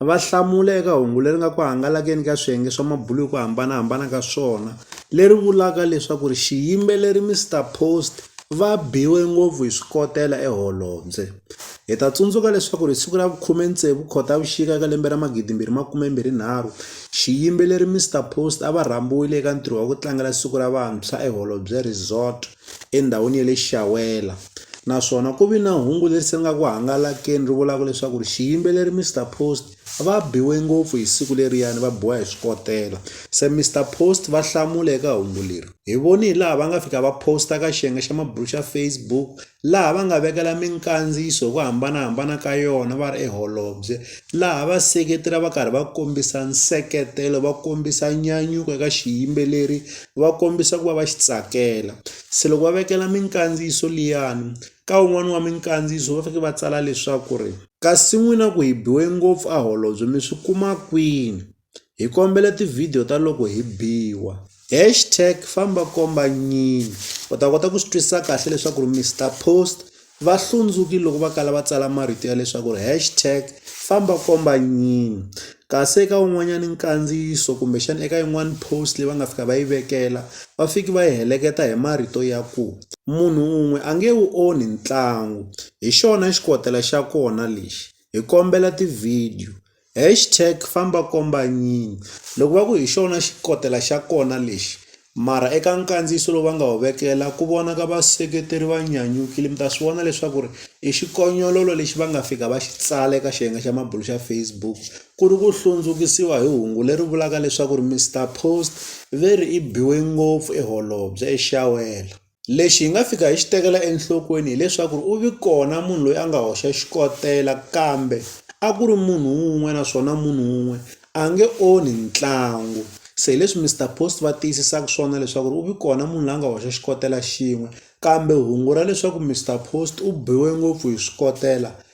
Va hlamula eka hungu leri nga ku hangalakile ka swiyenge swa mabulo hi ku hambanahambana ka swona leri vulaka leswaku ri xiyimbeleri Mister Post va biwe ngopfu hi swikotela eholobye. Hi ta tsundzuka leswaku ri hi siku ra vu khume tsevu Khotavuxika eka lembe ra magidi mbirhi makume mbirhi nharhu xiyimbeleri Mister Post a va rhambiwile eka ntirho wa ku tlangela siku ra vantshwa eholobye resort. endhawini ya le Xiyawela naswona ku vi na hungu leri se ri nga ku hangalakile ri vulaka leswaku ri xiyimbeleri Mister Post va biwe ngopfu hi siku leriyani va biwa hi swikotela se Mister Post va hlamula eka hungu leri hi voni hi laha va nga fika va post-a ka xiyenge xa mabulo xa Facebook laha va nga vekela minkandziyiso hi ku hambanahambana ka yona va ri eholobye laha va seketela va karhi va kombisa nseketelo va kombisa nyanyuko eka xiyimbeleri va kombisa ku va va xi tsakela se loko va vekela minkandziyiso liyani ka wun'wani wa minkandziyiso va fike va tsala leswaku ri kasi n'wina ku hi biwe ngopfu a holobye mi swi kuma kwini hi kombela tivhidiyo ta loko hi biwa hashtag famba komba nyini u ta kota ku swi twisisa kahle leswaku ri Mister Post Va hlundzukile loko va kala va tsala marito ya leswaku ri hashtag famba komba nyini kasi eka un'wanyana nkandziyiso kumbexana eka yin'wani post leyi va nga fika va yi vekela va fiki va yi heleketa hi marito ya ku munhu un'we a nge wu onhi ntlangu hi xona xikotela xa kona lexi hi kombela tivhidiyo Hashtag famba komba nyinyi loko va ku hi xona xikotela xa kona lexi mara eka nkandziyiso lowu va nga wu vekela ku vonaka vaseketeri va nyanyukile mi ta swi vona leswaku ri i xikonyololo lexi va nga fika va xi tsala eka xiyenge xa mabulo xa Facebook ku ri ku hlundzukisiwa hi hungu leri vulaka leswaku ri Mister Post ve ri i biwe ngopfu i holobye i xawela. Lexi hi nga fika hi xi tekela enhlokweni hileswaku u vi kona munhu loyi a nga hoxa xikotela kambe a ku ri munhu wun'we naswona munhu wun'we a nge onhi ntlangu se hi leswi Mister Post va tiyisisaka swona leswaku ri u vi kona munhu la nga hoxa xikotela xin'we kambe hungu ra leswaku Mister Post u biwe ngopfu hi swikotela